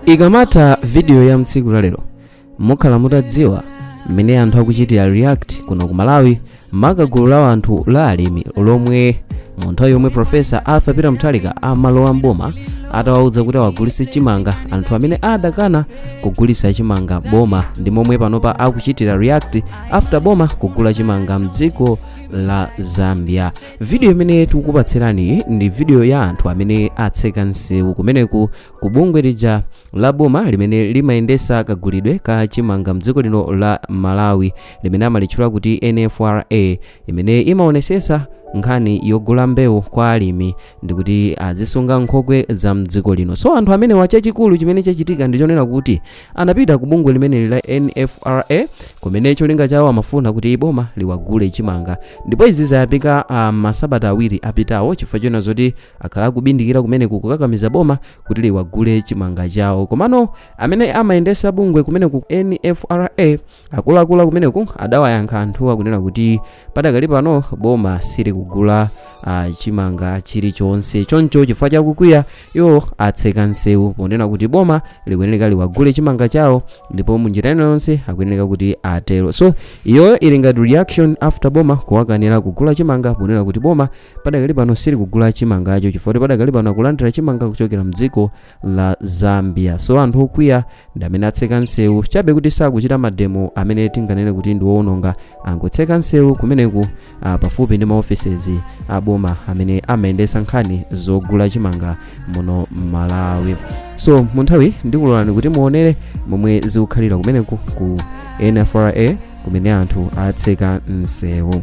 ikamatha vidiyo ya mtsiku lalero mukhala mutadziwa mmene anthu akuchitira react kuno ku malawi maka gulu la anthu la alimi lomwe mu nthawi yomwe profesa arthur peter mutharika amalowa mboma atawauza kuti awagulitse chimanga anthu amene adakana kugulitsa chimanga boma ndi momwe panopa akuchitira react after boma kugula chimanga mdziko la zambia vidiyo imene tikukupatsirani ndi vidiyo ya anthu amene atseka msewu kumene ku bungwe lija la boma limene limayendesa kagulidwe ka chimanga mdziko lino la malawi limene amalitchula kuti nfra imene imaonesesa nkhani yogula mbewu kwa alimi ndikuti azisunga nkhokwe za mdziko lino so anthu amenewa chachikulu chimene chachitika ndi chonena kuti anapita ku bungwe limeneli la nfra kumene cholinga chawo amafuna kuti boma liwagule chimanga ndipo izi zayambika ah, masabata awiri apitawo chifukwa chona zoti akhala akubindikira kumeneku kukakamiza boma kuti liwagule chimanga chawo komano amene amayendesa bungwe kumene ku nfra akuluakulu kumeneku adawayankha anthuwa kunena kuti padakali pano boma silikugula ah, chimanga chilichonse choncho chifukwa chakukwiya iwo atseka nsewu ponena kuti boma likuyeneka liwagule chimanga chawo ndipo munjira ina yonse akuyeneka kuti atero so iyoyo ili ngati reaction after boma kuwakanira kugula chimanga ponena kuti boma padakali pano silikugula chimangacho chifukwa choti padakali pano akulandira chimanga kuchokera mdziko la zambia so anthu okwiya ndi amene atseka nsewu chabe kuti sakuchita mademo amene tinganene kuti ndi woononga angotseka nsewu kumeneku ah, pafupi ndi maofesizi a boma amene amayendetsa nkhani zogula chimanga muno m'malawi so mu nthawi ndikuloleni kuti muonere momwe zikukhalira kumeneku ku nfra kumene anthu atseka msewu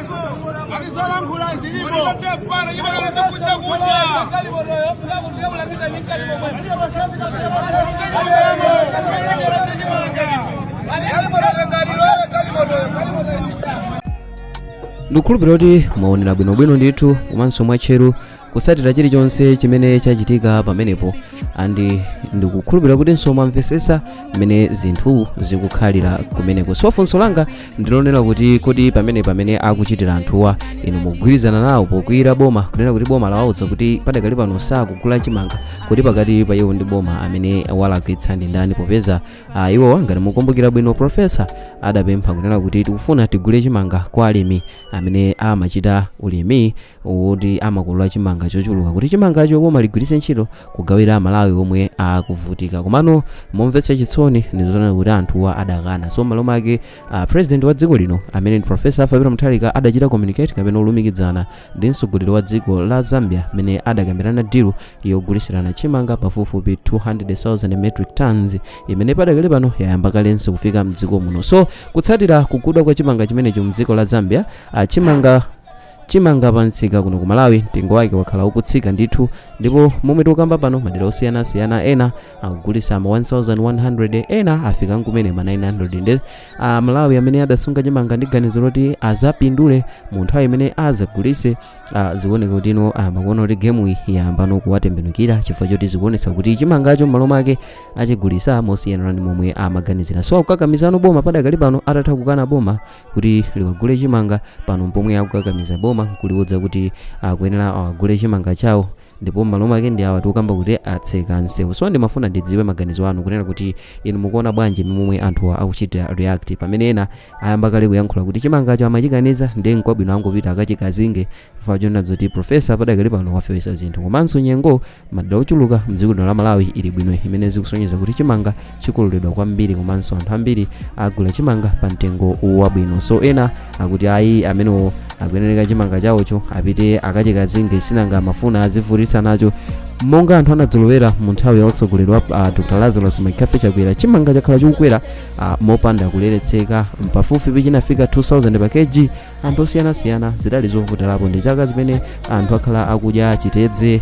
ndikukhulupirira kuti mwaonera bwinobwino ndithu komanso mwatcheru kutsatira chilichonse chimene chachitika pamenepo andi ndikukhulupirira kuti mwamvesesa mmene zinthu zikukhalira kumeneko so funso langa ndilonena kuti kodi pamene pamene akuchitira anthuwa inu mugwirizana nawo pokwiyira boma kunena kuti boma lawauza kuti padakali pano sakugula chimanga kuti pakati pa iwo ndi boma amene walakwitsa ndi ndani popeza ah, iwowa ngati mukumbukira bwino profesa adapempha kunena kuti tikufuna tigule chimanga kwa alimi amene amachita ulimi woti amakolola chimanga chochuluka kuti chimangacho boma ligwiritse ntchito kugawira amalawi omwe akuvutika komano momvetsa chisoni ndizonena kuti anthuwa adakana so malo make uh, president wa dziko lino amene ndi profesa arthur peter mutharika adachita communicate kapena olumikidzana ndi mtsogoleri wa dziko la zambia amene adakambirana dilu yogulisirana chimanga pafupifupi 200,000 metric tons imene padakali pano yayamba kalenso kufika mdziko muno so kutsatira kugulidwa kwa chimanga chimenecho mdziko la zambia uh, chimanga Chimanga pa msika kuno ku Malawi mtengo wake wakhala ukutsika ndithu ndipo momwe tikukamba pano madera osiyanasiyana ena akugulisa ma 1100 ena afika nkumene ma 900 nde a Malawi amene adasunga chimanga ndi ganizo loti azapindule mu nthawi imene azagulise ah, zikuoneka kuti ino akuona kuti gemu iyi yayambano kuwatembenukira chifukwa choti zikuonetsa kuti chimangacho m'malo mwake achigulisa mosiyana ndi momwe amaganizira so akukakamizano boma padakali pano atatha kukana boma kuti liwagule chimanga pano mpomwe akukakamiza boma nkuliuza kuti akuyenera awagule chimanga chawo ndipo m'malo make ndi awa tikukamba kuti atseka msewu so ndimafuna ndidziwe maganizo anu kunena kuti inu mukuona bwanji momwe anthuwa akuchitira react pamene ena ayamba kale kuyankhula kuti chimangacho amachikaniza ndiye nkwabwino angopita akachikazinge Chifukwa chonena zoti Professor padakali pano wafewetsa zinthu komanso nyengo madera ochuluka mdziko lino la Malawi ili bwino imene zikusonyeza kuti chimanga chikololedwa kwambiri komanso anthu ambiri agula chimanga pa mtengo wabwino so ena akuti ayi amenewo akuyenereka chimanga chawocho apite akachikazinge sinanga amafuna adzativutitsa nacho monga anthu anadzolowera mu nthawi ya utsogoleri wa uh, dr lazarus mccarthy chakwera chimanga chakhala chikukwera uh, mopanda kuleretseka pafupifupi chinafika 2000 pa kg anthu osiyanasiyana zidali zovutirako ndi chaka zimene anthu akhala akudya chitedze